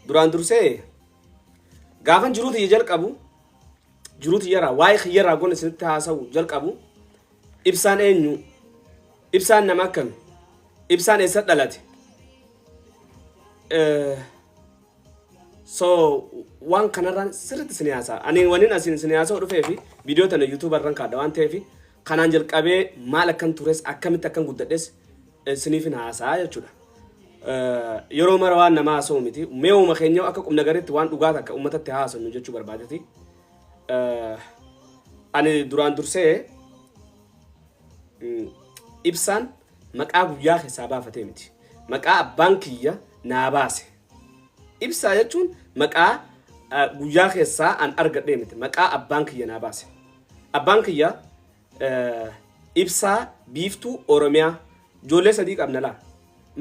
duraan dursee gaafan jiruu tiyya jalqabu jiruu tiyyarraa waa'ee kiyyarraa goon isinitti haasa'u jalqabu ibsaan eenyu ibsaan nama akkami ibsaan eessa dhalate Eh, so waan kanarraan sirriitti isin haasa'a ani waniin asiin isin haasa'u dhufee fi viidiyoo tana yuutuubarraan kaadha waan ta'eef Kanaan jalqabee maal akkan tures akkamitti akkan guddadhes isiniifin haasa'a jechuudha. Yeroo mara waan namaa haasa'u miti. Mee uuma keenya akka qubna garitti waan dhugaa takka uummatatti haasannu jechuu barbaadeti. Ani duraan dursee ibsaan maqaa guyyaa keessaa baafatee miti. Maqaa abbaan kiyya naa baase. Ibsaa jechuun maqaa guyyaa keessaa an argadhee miti. Maqaa abbaan kiyya naa baase. Abbaan kiyya Ibsaa Biiftuu Oromiyaa ijoollee sadii qabna laa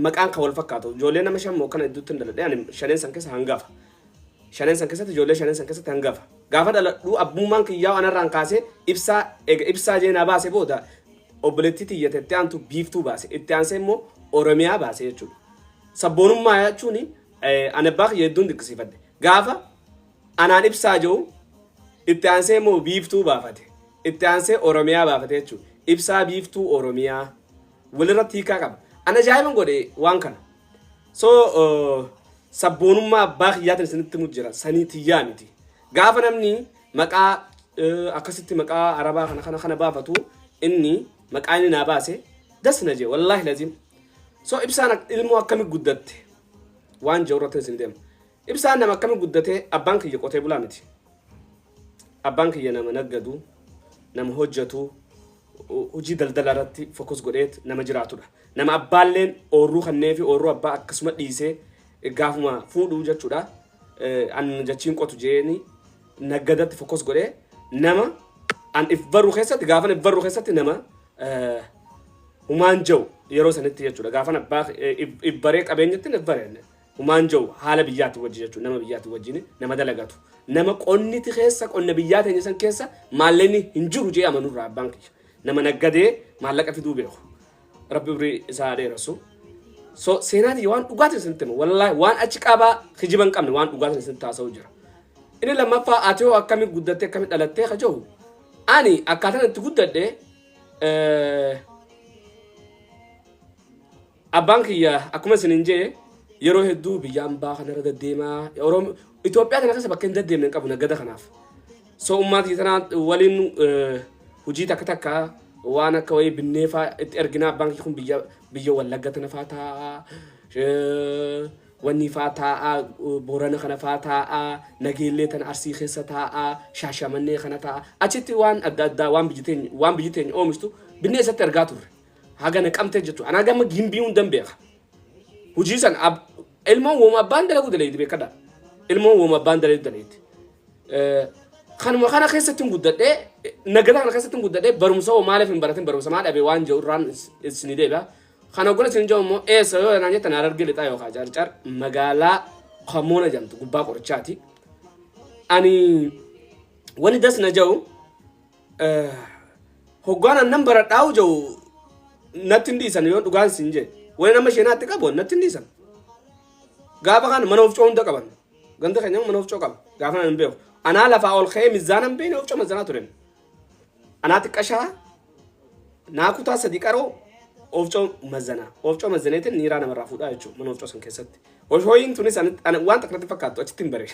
maqaan kan wal fakkaatu ijoollee nama shan moo kana hedduutti hin dhaladhe ani shaneen san keessa hangafa shaneen san keessatti ijoollee shaneen san keessatti hangafa gaafa dhaladhuu abbummaan kiyyaa anarraan kaasee ibsaa ega ibsaa jeenaa baase booda obboleettii tiyyate itti aantu biiftuu baase itti aansee immoo oromiyaa baase jechuudha sabboonummaa jechuun ani abbaa kiyya hedduun dinqisiifadhe gaafa Anaan Ibsaa je'u, itti aansee immoo Biiftuu baafate. Itti aansee Oromiyaa baafate jechuudha. Ibsaa Biiftuu Oromiyaa. Walirratti hiikaa qaba. Ana ajaa'iban godhe waan kana. So sabboonummaa abbaa kiyyaatiin isinitti himu jira. Sanii tiyyaa miti. Gaafa namni maqaa akkasitti maqaa arabaa kana kana kana baafatu inni maqaa inni naa baase das na jee wallaahi laziim. So ibsaan ilmoo akkami guddatte waan jiru irratti isin deema. Ibsaan nama akkami guddate abbaan kiyya qotee bulaa miti abbaan kiyya nama naggadu nama hojjatu hojii daldala irratti fokus godheet nama jiraatudha nama abbaalleen oorruu kannee fi oorruu abbaa akkasuma dhiisee gaafuma fuudhuu jechuudha an jachiin qotu jeeni naggadatti fokus godhee nama an if baruu keessatti gaafan if baruu keessatti nama humaan jau yeroo sanitti jechuudha gaafan abbaa if baree qabeenyatti if baree Human jau haala biyyaati wajji jechu nama biyyaati wajjini nama dalagatu nama qonniti keessa qonna biyyaa teenya san keessa maalleni hin jiru jee amanu irraa abbaan kiyya nama naggadee maallaqa fiduu beeku rabbi umrii isaa haa dheerasu so seenaa tiyya waan dhugaatiin isinitti hima wallaahi waan achi qabaa kijiba hin qabne waan dhugaatiin isinitti haasa'u jira inni lammaffaa ati hoo akkami guddattee akkami dhalattee ka jahu ani akkaataan itti guddadhe eh, Abbaan kiyya akkuma isinin jee yeroo hedduu biyya ambaa kanarra daddeemaa Oromo Itoophiyaa kana keessa bakka hin daddeemne hin qabu naggada kanaaf. So ummaa kiyya tanaa waliin eh, hojii takka takka waan akka wayii binnee faa itti erginaa abbaan kiyya kun biyya biyya wallagga tana faa taa'aa eh, wannii faa taa'aa eh, boorana kana faa taa'aa nageellee tana arsii keessa taa'aa shaashamannee kana taa'aa achitti waan adda addaa waan biyyi teenya waan biyyi teenya oomishtu binnee isatti ergaa turre. haga naqamtee jechuudha. Anaa gama gimbii hundan beeka. Hojii san ab- ilmoon wooma abbaan dalaguu dalayti beekadha. Ilmoon wooma abbaan dalaguu dalayti. Eh, Kanuma kana keessatti hin guddadhee nagada kana keessatti hin guddadhee barumsa hoo maaliif hin baratin barumsa maa dhabee waan jiru irraan is- isinii deebi'a. Kana gola isin jiru immoo eessa yoo naan jettan harargee lixaa yookaan carcar magaalaa Kamoona jedhamtu gubbaa qorichaati. Ani wani das na jau Hoggaan annan baradhaa'u jiru natti hin dhiisan yoo dhugaan siin jee. Wani nama sheenaatti qabu natti hin dhiisan. Gaafa kana mana ofcoo hunda qaban. Ganda keenya mana ofcoo qaba. Gaafa kana hin beeku. Anaa lafaa ol ka'ee mizaana hin beekne ofcoo mizaanaa turen. Anaa xiqqashaa naa kutaa sadii qaroo ofcoo mazanaa. Ofcoo mazaneetiin niiraa namarraa fuudhaa jechuudha mana ofcoo san keessatti. Oshooyiin tunis ani- ani waan takka natti fakkaattu achitti hin bare.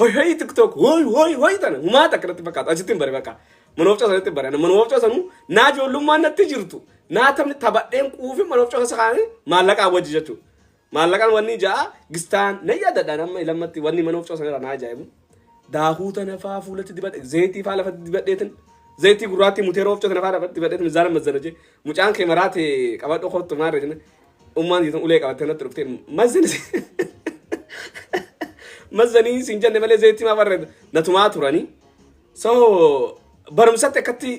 Hoi hoi tiktok hoi hoi hoi tana humaa takka natti fakkaatu achitti hin bare bakka mana oofcaa sanatti hin bare mana oofcaa sanuu naa ijoollummaan natti jirtu naa taphni taphadheen quufi mana oofcaa keessa kaa'anii maallaqaa wajji jechuudha. Maallaqaan wanni ja'a gistaan na yaadadhaan amma ilammatti wanni mana oofcaa sanarra naa ajaa'ibu. Daakuu tana faa fuulatti dibadhe zayitii faa lafatti dibadheetin zayitii gurraattii muteera oofcaa tana faa lafatti dibadheetin mizaana mazzana jee mucaan kee maraate qabadhu kottu maarre jenna Ummaan jeetan ulee qabattee natti dhuftee mazzan mazzanii siin jenne malee zeetii maa barreedda natumaa turanii. So barumsatti akkatti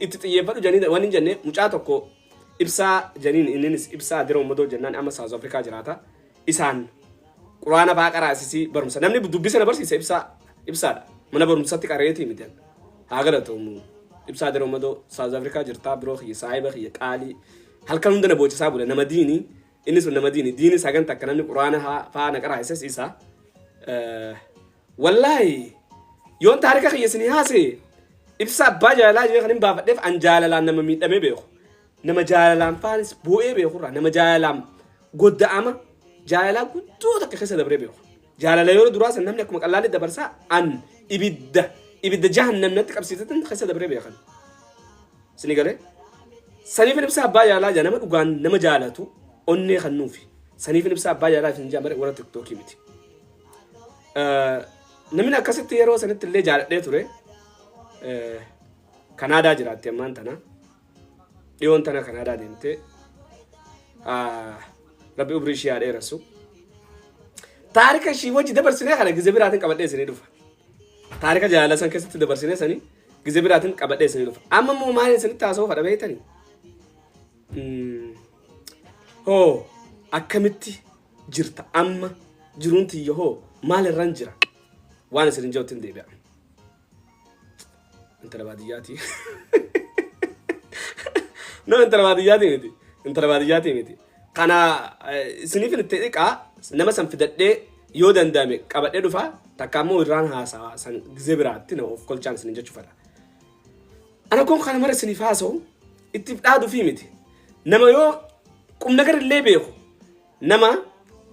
itti xiyyeeffadhu janii waan hin jenne mucaa tokko ibsaa janiin inninis ibsaa adira ummadoo jennaan amma South Africa jiraata. Isaan quraana baa qaraasisii barumsa namni dubbisa na barsiisa ibsaa ibsaadha mana barumsatti qareetii miti haa galatoomuu. ibsaa diroo madoo saawuz afrikaa jirtaa biroo kiyya saahiba kiyya qaalii Halkan hunda na boochisaa bula nama diini inni sun nama diini diini sagan takka namni quraana haa- faa na qaraa isas isa Eh, wallaahi yoon taarika kiyya isinii haase ibsa abbaa jaalalaa jee kan hin baafadheef an jaalalaan nama miidhamee beeku nama jaalalaan faanis boo'ee beeku irraa nama jaalalaan godda'ama jaalalaa guddoo takka keessa dabree beeku jaalala yeroo duraa san namni akkuma qallaalli dabarsaa an ibidda ibidda jahannam natti qabsiisatan keessa dabree beekan Sini galee? Saniifin ibsaa abbaa jaalalaa jaa nama dhugaan nama jaalatu onnee kan nuufi. Saniifin ibsaa abbaa jaalalaa isin jaa malee warra tiktookii miti. Eh, Namni akkasitti yeroo sanitti illee jaaladhee ture eh, Kanaadaa jiraatti ammaan tana. Dhiyoon tana Kanaadaa deemtee ah, rabbi umrii ishee haa dheeressu. Taarika ishii wajji dabarsinee kana gizee biraatiin qabadhee isinii dhufa. Taarika jaalala san keessatti dabarsine sani gizee biraatiin qabadhee sani dhufa. Amma immoo maal isinitti haasoo fadha beektani? Hoo akkamitti jirta amma jiruun tiyya hoo maal irran jira? Waan isin hin jirtu hin deebi'a. Intala baadiyyaati. No intala baadiyyaati miti. Intala baadiyyaati miti. Kana eh, isiniif itti dhiqaa nama san fidadhee yoo danda'ame qabadhee dhufa takka ammoo irraan haasawa san gizee biraatti na of kolchaan isin jechuu fedha. Ana kun kana mara isiniif haasa'u ittiif dhaaduu fi miti. Nama yoo qumna gara illee beeku Nama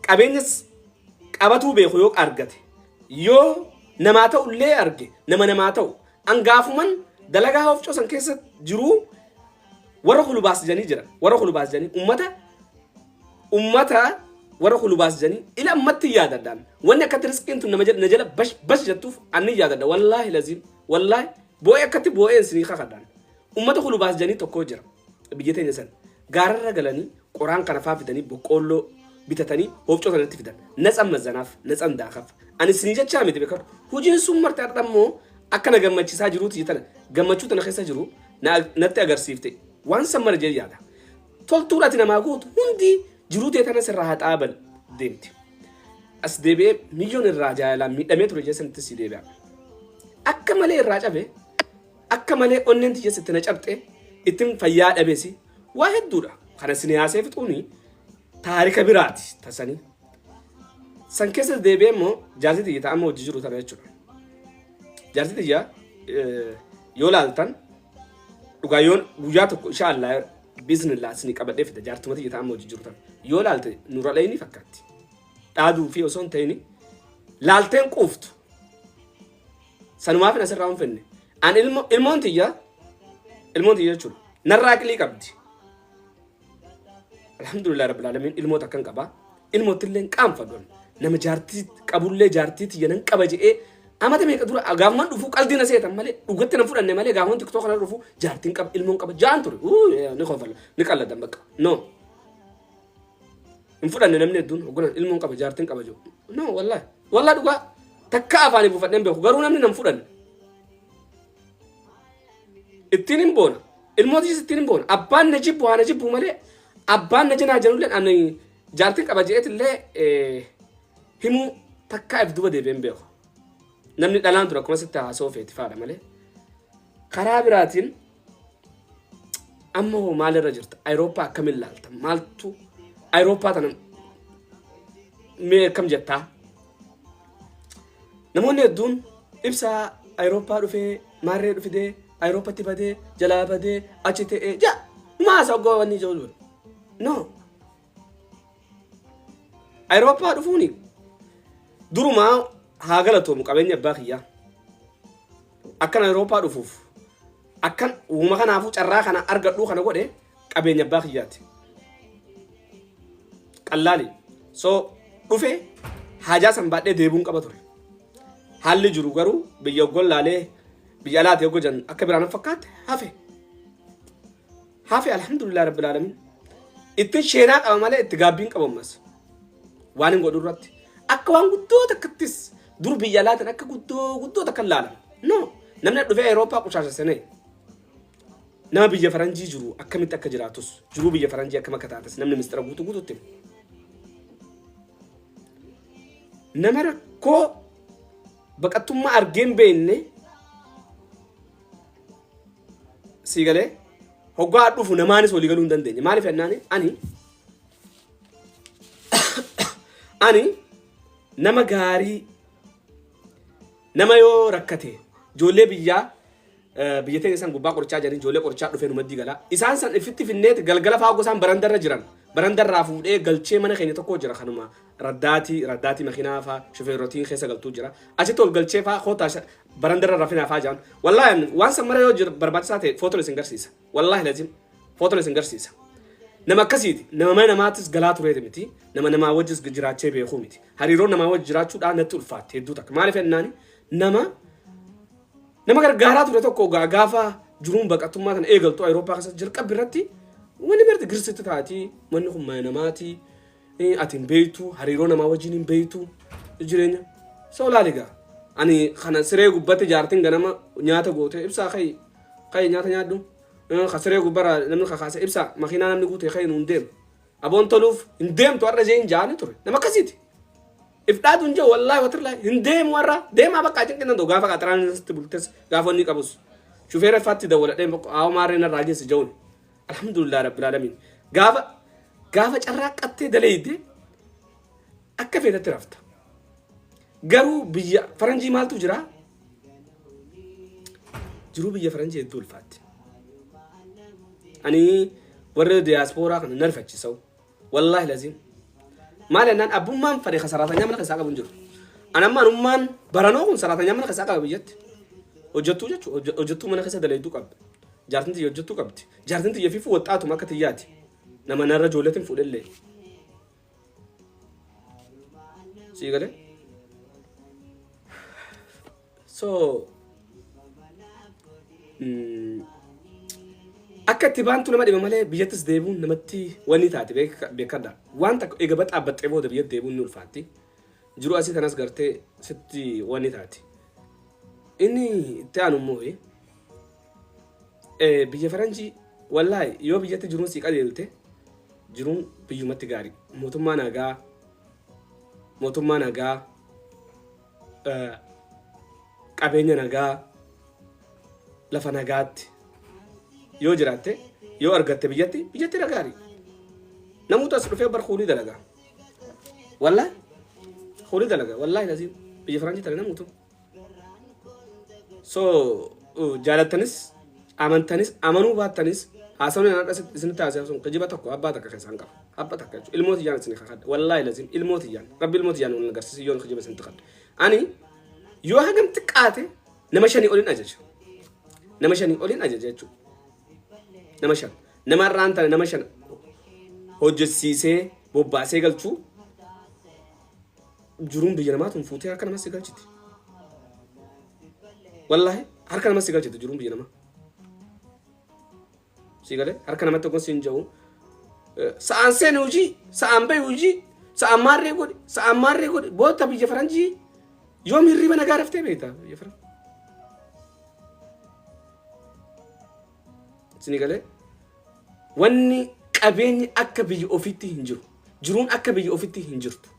qabeenyas qabatuu beeku yoo argate yoo namaa ta'u illee arge nama namaa ta'u angaafuman dalagaa hofcoo san keessa jiruu warra kulubaas janii jira warra kulubaas janii ummata ummata warra kulubaas janii ila ammatti yaadadhaan wanni akkatti riskiin tun nama jala- na jala bash bash jettuuf anni yaadadha wallaahi laziim wallaahi boo'ee akkatti boo'een sinii kakadhaan ummata kulubaas janii tokkoo jira biyya teenya san Gaararra galanii qoraan kana faa fidanii boqqoolloo bitatanii hoofcoo sanatti fidan. Natsan mazzanaaf, natsan daakaf. Ani isinii jechaa miti beekadhu. Hojiin sun marti har'a immoo akka na gammachiisaa jiruuti jetana. Gammachuu tana keessa jiru na- natti agarsiifte. Waan san mara jee yaada. Toltuun ati namaa gootu hundi jiruu tee tana sirraa haxaa bal deemti. As deebi'ee milyoon irraa jaalalaan miidhamee ture jee sanitti si deebi'a. Akka malee irraa cabe Akka malee onneen tiyya sitti na cabxe ittin fayyaa dhabesi waa hedduudha kana isin haasee fixuuni taarika biraati tasanii san keessas deebi'ee immoo jaarsi tiyya ta'amma hojii jiru tana jechuudha jaarsi tiyya yoo laaltan dhugaa yoon guyyaa tokko isha allaa biiznillaa isin qabadhee fida jaartuma tiyya ta'amma hojii jiru tana yoo laalte nura dhayini fakkaatti dhaaduu fi osoo hin ta'ini laalteen quuftu Sanumaafin asirraa hin finne. An ilmo ilmoon tiyya ilmoon tiyya jechuudha. Narraa aqilii qabdi. Alhamdulillah rabbil alamin ilmoota akkan qaba. Ilmootti illee hin qaanfadhu. Nama jaartii qabullee jaartii tiyya nan qaba je'ee amata meeqa dura gaafuman dhufu qalbii na seetan malee dhugatti na fudhanne malee gaafuman tiktook kana dhufu jaartiin qaba ilmoon qaba jaan ture. Uu, eh, Ni kofala ni qalladan bakka. No. hin fudhanne namni hedduun hogganan ilmoon qaba jaartin qaba jiru no wallahi wallahi dhugaa takka afaanii buufadheen beeku garuu namni nan fudhanne ittiin hin boona ilmootis ittiin hin boona abbaan na jibbu haa na jibbu malee abbaan na janaa janulleen ani jaartin qaba jeetillee himuu takkaa if duba deebi'een beeku namni dhalaan ture akkuma sitti haasoo feeti faadha malee karaa biraatiin Amma hoo maalirra jirta? Ayirooppaa akkamiin laalta? Maaltu Ayirooppaa tana mee akkam jettaa? Namoonni hedduun ibsa Ayirooppaa dhufee maarree dhufidee Ayirooppatti badee jalaa badee achi ta'ee jaa maasa oggoowwan ijoo dura. No Ayirooppaa dhufuun durumaa haa galatoomu qabeenya abbaa kiyyaa. Akkan Ayirooppaa dhufuuf akkan uuma kanaafuu carraa kana argadhuu kana godhe qabeenya abbaa kiyyaati. Qallaali. So dhufe haajaa san baadhee deebuun qaba ture. Haalli jiru garuu biyya oggoon laalee biyya alaati oggojan akka biraan fakkaatte hafe. hafe alhamdulillah rabbil alamin ittin sheenaa qaba malee itti gaabbiin qabammas waan hin godhu irratti akka waan guddoo takkattis dur biyya laatan akka guddoo guddoo takka hin laalan no namni dhufee Awurooppaa qushaasha seenee nama biyya faranjii jiru akkamitti akka jiraatus jiruu biyya faranjii akkam akka taates namni mistira guutuu guutuutti hima. nama rakkoo baqattummaa argee hin beekne sii galee hoggaa dhufu namaanis walii galuu hin dandeenye maaliif jennaani ani ani nama gaarii nama yoo rakkate ijoollee biyyaa eh, biyya teenya isaan gubbaa qorichaa jiranii ijoollee qorichaa dhufee numaddi gala isaan san ifitti finneeti galgala fa'aa gosaan barandarra jiran barandarraa fuudhee galchee mana keenya tokko jira kanuma Raddaatii, raddaatii makinaa faa shufeerrotiin keessa galtuu jira. Achitti ol galchee faa kootaa sha- barandarra rafinaa faa jaan. Wallaahi ani waan san mara yoo jir- barbaachisaa ta'e footoon isin garsiisa. Wallaahi lazim footoon isin garsiisa. Nama akkasiiti. Nama mana namaatis galaa tureeti miti. Nama namaa wajjis jiraachee beekuu miti. Hariiroon namaa wajji jiraachuudhaan natti ulfaatte hedduu takka. Maaliif jennaani nama nama gargaaraa ture tokko gaa- gaafa jiruun baqattummaa kana eegaltu Awurooppaa keessatti jalqabbi irratti wanni marti girsitti taati manni kun mana namaati Ee ati hin beektu hariiroo namaa wajjin hin beektu jireenya isa olaali gaa ani kana siree gubbatti jaartiin ganama nyaata goote ibsaa ka'i ka'i nyaata nyaadhu Eh, ka siree gubbara namni kakaase ibsaa makiinaa namni guute ka'i nuun deemu aboon toluuf hin deemtu har'a ishee hin jaane ture nama akkasiiti if dhaatu hin jiru wallaahi watirlaa hin deemu har'a deemaa bakka cinqinnan ta'u gaafa qaxaraan irratti bultes gaafa inni qabus shufeera iffaatti dawwaladhee hawa maarreen irraa geessi ja'uun Alhamdulillah Rabbil Alamin. Gaafa gaafa carraaqqattee daleeyde akka feetatti rafta. Garuu biyya faranjii maaltu jira? Jiruu biyya faranjii hedduu ulfaatti. Ani warra diyaaspooraa kana narfachisau. Wallaahi laziim. Maal jennaan abbummaan fadhe kan saraatanyaa mana keessaa qabu hin jiru. An amma anummaan baranoo kun saraatanyaa mana keessaa qaba biyyatti. Hojjettuu jechuun hojje- hojjettuu mana keessa dalayduu qabdi. Jaartiin tiyya hojjettuu qabdi. Jaartiin tiyya fiifuu waxxaatuma akka tiyyaati. Nama narra ijoolleetiin fuudhellee. Sii galee? so mm, akka itti baantu nama dhiba malee biyyattis deebi'uun namatti wanni taate beeka- beekadha waan takka egaa baxaa baxxee booda biyyatti deebi'uun ni ulfaatti jiru asii kanas gartee sitti wanni taate inni itti aanu immoo eh, eh, biyya faranjii wallaahi yoo biyyatti jiruun sii qajeelte jiruun biyyumatti gaarii mootummaa nagaa mootummaa nagaa qabeenya nagaa lafa nagaatti yoo jiraatte yoo argatte biyyatti biyyatti nagaari namuutu as dhufee bar kuunii dalaga wallaahi kuunii dalaga wallaahi laziin biyya faraanjii tana namuutu so uh, jaalattanis amantanis amanuu baattanis haasawni anadha isinitti haasawsun kijiba tokko abbaa takka keessaan qaba abba takka jechuudha ilmoo tiyyaan isin kakadha wallaahi lazim ilmoo tiyyaan rabbi ilmoo tiyyaan wal agarsiisu yoon kijiba isin takadha ani yoo hagam xiqqaate nama shanii olin ajaja nama shanii olin ajaja jechuudha nama shan nama irraan tana nama shan hojjechiisee bobbaasee galchuu jiruun biyya namaa tun fuutee harka namas si galchiti wallaahi harka namas si galchiti jiruun biyya namaa Sii galee harka namatti tokkon siin ja'u sa'aan seeni hojii sa'aan bahi hojii sa'aan maarree godhi sa'aan maarree godhi boota biyya faranjii yoom hirriba nagaa raftee beekta biyya faranjii. Sini galee wanni qabeenyi akka biyya ofiitti hin jiru jiruun akka biyya ofiitti hin jirtu.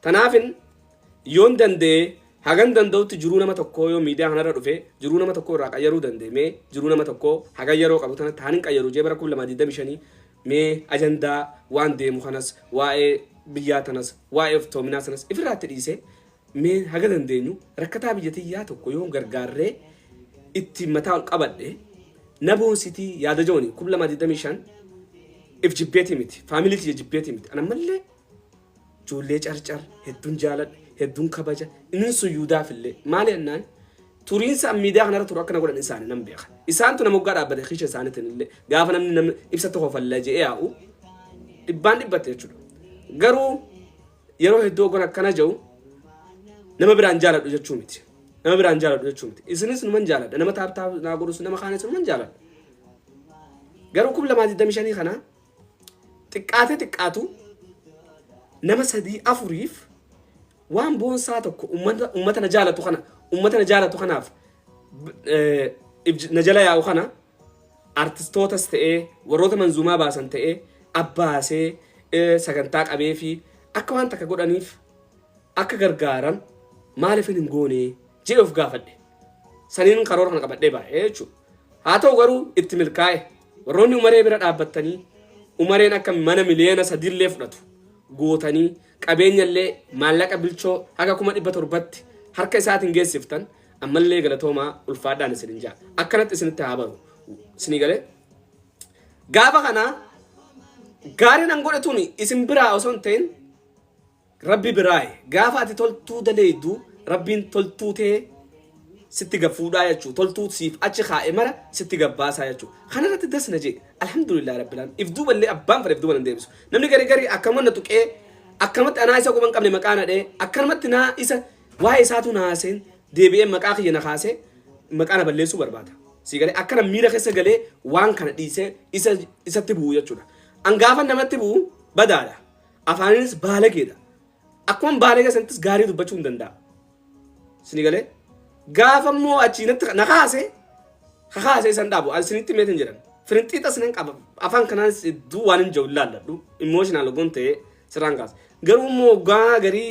Tanaafin yoon danda'e hagan danda'utti jiruu nama tokkoo yoo miidiyaa kanarra dhufe jiruu nama tokkoo irraa qayyaruu danda'e mee jiruu nama tokkoo hagan yeroo qabu tana taanin qayyaru jee bara 2025 mee ajandaa waan deemu kanas waa'ee biyyaa tanas waa'ee oftoominaa sanas ifirraatti dhiise Mee haga dandeenyu rakkataa biyya tiyyaa tokko yoon gargaarree ittiin mataa ol qabadhe na boonsitii yaada jooni kum lama digdamii shan if jibbeetii miti faamilii kiyya jibbeetii miti ana mallee ijoollee carcar hedduun jaaladha hedduun kabaja inni suyyuudaaf illee maali annaan turiinsa miidiyaa kanarra turu akkana godhan isaanii nan beeka isaantu nama waggaa dhaabbate kiisha isaaniitiin illee gaafa namni namni ibsa tokko falla je'ee yaa'u dhibbaan dhibbatte jechuudha garuu yeroo hedduu ogon akkana ja'u nama biraan jaaladhu jechuu miti. Nama biraan jaaladhu jechuu miti. Isinis numan jaaladha. Nama taaptaa naa godhus nama kaanis numan jaaladha. Garuu kum lamaa digdamii shanii kana xiqqaatee xiqqaatu nama sadii afuriif waan boonsaa tokko ummata ummata na jaalatu kana ummata na jaalatu kanaaf b- eh, ibj- na jala yaa'u kana artistootas ta'ee warroota manzuumaa baasan ta'ee abbaasee eh, sagantaa qabee fi akka waan takka godhaniif akka gargaaran maaliif hin goone jedhe of gaafadhe. Saniin karoora kana qabadhee baay'ee jechuudha. Haa ta'u garuu itti milkaa'e warroonni umaree bira dhaabbattanii umareen akka mana miliyoona sadiillee fudhatu gootanii qabeenyallee maallaqa bilchoo haga kuma dhibba torbatti harka isaatiin geessiftan Ammallee galatoomaa ulfaadhaan isinin ja'a. Akkanatti isinitti haa baru. Isinii galee? Gaafa kana gaariin an godhe tuni isin biraa osoo hin ta'in rabbi biraaye. Gaafa ati toltuu daleeydu rabbiin toltuu tee sitti gaffuudhaa jechuu toltuu siif achi kaa'e mara sitti gabbaasaa jechuu kana irratti das na jee alhamdulillah rabbilaan if duuba illee abbaan fedhe if duuba nan deebisu namni garii garii akkamuma na tuqee akkamatti anaa isa quban qabne maqaa na dhee akkanumatti naa isa Waa'ee isaa utuu na haasa'in deebi'ee maqaa kiyya na kaasee maqaa na balleessuu barbaada. Sii galee akkana miira keessa galee waan kana dhiisee isa isatti bu'u jechuudha. An gaafa namatti bu'u badaadha. Afaaninis baalageedha. Akkuma baalagee sanattis gaarii dubbachuu hin danda'a. Sini galee gaafa immoo achii natti na kaase ka kaase isan dhaabu an sinitti meetin jedhan. Firinxiixa sinan qaba afaan kanaan hedduu waan hin jiru ilaalladhu. Immooshinal ogoon ta'ee sirraan kaasa. Garuu immoo gaa garii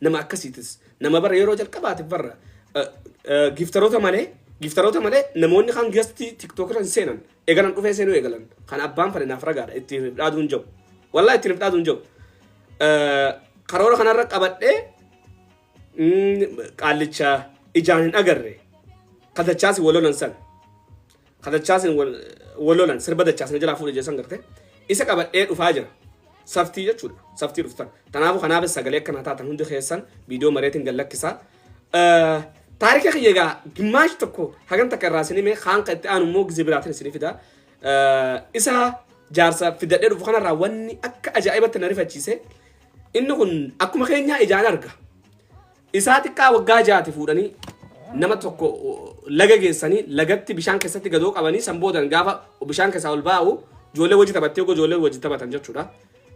Nama akkasiitis nama bara yeroo jalqabaatiif barra giiftaroota malee giiftaroota malee namoonni kan gastii tiktookira hin seenan eegalan dhufee seenuu eegalan kan abbaan fane naaf ragaadha ittiin of dhaaduun jabu wallaa ittiin of dhaaduun jabu karoora kanarra qabadhee mm, qaallicha ijaan hin agarre katachaasi walolan san ka dachaasin wal wal lolan sirba dachaas na jalaa fuudhe jeessan garte isa qabadhee dhufaa jira saftii jechuudha saftii dhuftan kanaafuu kanaafis sagalee akka naa taatan hundi keessan viidiyoo mareetiin gad lakkisaa Eh, taarika kiyya egaa gimmaash tokko hagan takka irraa isinii mee kaan kan itti aanu immoo gizee biraatiin isinii fida Eh, isa jaarsa fidadhee dhufu kanarraa wanni akka ajaa'ibatti na rifachiise inni kun akkuma keenyaa ijaan arga Isaa xiqqaa waggaa ja'ati fuudhanii nama tokko laga geessanii lagatti bishaan keessatti gadoo qabanii san boodan gaafa bishaan keessaa ol baa'u ijoollee wajji taphattee ogoo ijoollee wajji taphatan jechuudha.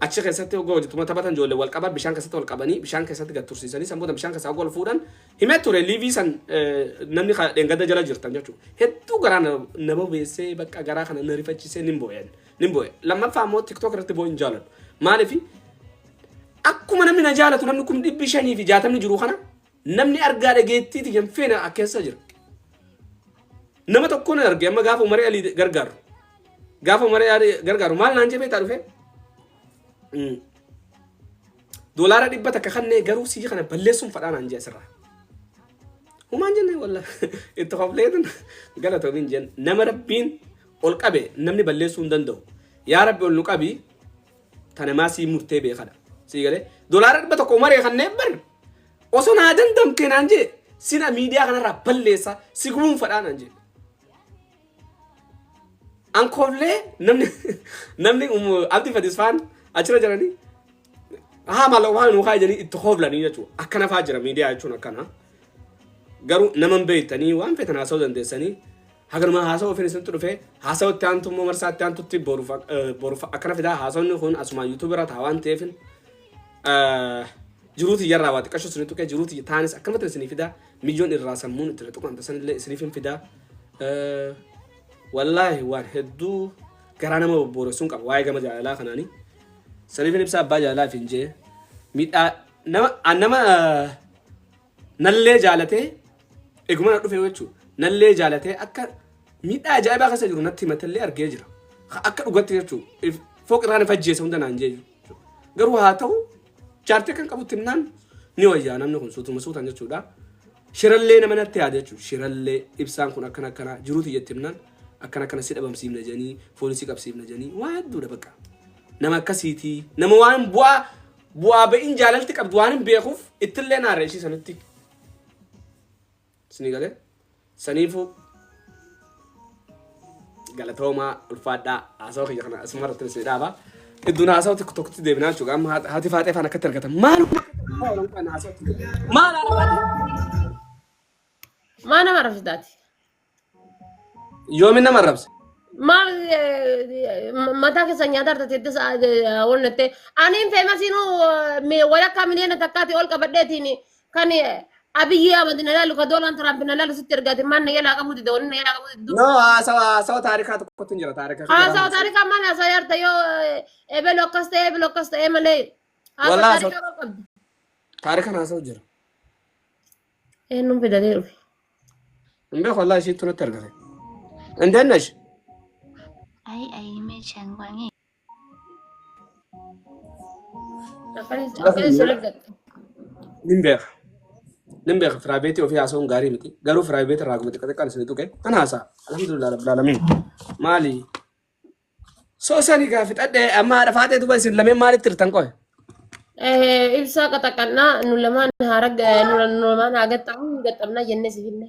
Achi keessatti ogoo wajji tuma taphatan ijoollee wal qaban bishaan keessatti ol qabanii bishaan keessatti gad tursiisanii san boodan bishaan keessaa ogoo ol fuudhan himee ture liivii san namni dheengadda jala jirtan jechuudha. Hedduu garaa na bobeessee bakka garaa kana na rifachisee nin boo'een nin boo'e. Lammaffaa immoo tiktook irratti boo'in jaaladhu. Maaliif Akkuma namni na jaalatu namni kum dhibbi shanii fi jaatamni jiru kana namni argaa dhageettiiti kan feena keessa jira. Nama tokkoon arge amma gaafa umaree alii gargaaru. Gaafa umaree alii gargaaru maal naan jebee taa dhufee? Doolaara dhibba takka kannee garuu sii kana balleessuun fadhaa naan jee asirraa. Humaan jennee walla itti hofleetin galatoomiin jenna. Nama rabbiin ol qabe namni balleessuu hin danda'u. Yaa rabbi ol nu qabi Tanamaa sii murtee beekadha. Sii galee dolaara dhibba tokko maree kanneen bar osoo naa dandamtee naan jee sila miidiyaa kanarraa balleessa si guunfadhaa naan jee. Ankooflee namni namni abdi fadisfaan achira jiranii haa maaloo waan nu kaayanii itti hooflanii jechuudha. Akkana fa'aa jira miidiyaa jechuun akkana. Garuu nama hin beektanii waan feetan haasa'uu dandeessanii Haganuma haasawa ofiin isinitti dhufe haasawa itti aantu immoo marsaa itti aantutti boruuf ak- eh, boruuf akkana fidaa haasawni kun asuma yuutuubii irraa ta'a waan ta'eefin eh, jiruuti iyyarraa waa xiqqashu isinii tuqee jiruuti iyya taanis akkamatti isinii fidaa mijoon irraa sammuun itti tuqan tasan illee isiniif hin fidaa Eh, wallaahi waan hedduu garaa nama bobbooressuun qaba waa'ee gama jaalalaa kanaanii saniifin ibsaa abbaa jaalalaa fi hin jee miidhaa nama an nama eh, Nallee jaalatee eguma na dhufee jechuudha. Nallee jaalatee akka miidhaa ajaa'ibaa keessa jiru natti himatallee argee jira. Ka- Akka dhugatti jechuudha. Fooq irraa na fajjeessa hunda naan jeeju. Garuu haa ta'u jaartee kan qabutti himnaan ni wayyaa namni kun suutuma suutan jechuudha. Shirallee nama natti yaada jechuudha. Shirallee ibsaan kun akkana akkana jiruu tiyyatti himnaan akkana akkana si dhabamsiifna jedhanii foolisii qabsiifna jedhanii waa hedduudha bakka. Nama akkasiitii nama waan bu'aa Bu'aa ba'iin jaalalti qabdu waan hin beekuuf ittillee naarra ishii sanitti. Isinii galee? Saniifuu galatoomaa ulfaadhaa haasawaa kiyya kana asuma irratti isin dhaaba. Iddoon haasawaa tokko tokkotti deebinaa jechuudha. Amma haati- haati faaxee faan akkatti argatan. Maaluma maal haala faaxee? Maa nama rabsitaati? Yoomi nama arrabse. Maal eh, ma- mataa keessa nyaata argate itti sa'a onnatte. Aniin feemasiinuu walakkaa miliyoona takkaati ol qabadheetiin kan eh, Abiyyi Ahmad na laalu ka Doonaald Tiraamp na laalu sitti ergaate maal na jalaa qabuu dida wanni na jalaa qabuu diddu. No, haasawa haasawa taarikaa tokkotu hin jira taarika. Haasawa taarikaa maal haasawa yarta yoo eh, ebelu akkas ta'e ebelu akkas ta'e malee haasawa Walaa taarikaa maal qabdi. Taarikan haasawa jira. Eenyuun fidatee dhufe? Hin beeku wallaahi isiittu natti argame. Hin dandash. Ayi ayi meeshaan waamee. Akkana sirrii gatte. Nin beeka. Nin beeka firaayiveetii ofii haasa'uun gaarii miti. Garuu firaayiveetii irraa akkuma xiqqaa xiqqaan isin tuqe. Kan haasa'a. Alhamdulillah rabbil alamin. Maali? So sani gaa fixadhe amma haadha faatee duba isin lameen maalitti hirtan qoy? Eh, Ibsaa qaxaqannaa nu lamaan haa ragga nu lamaan haa gaxxamu hin gaxxamnaa jennee si finne.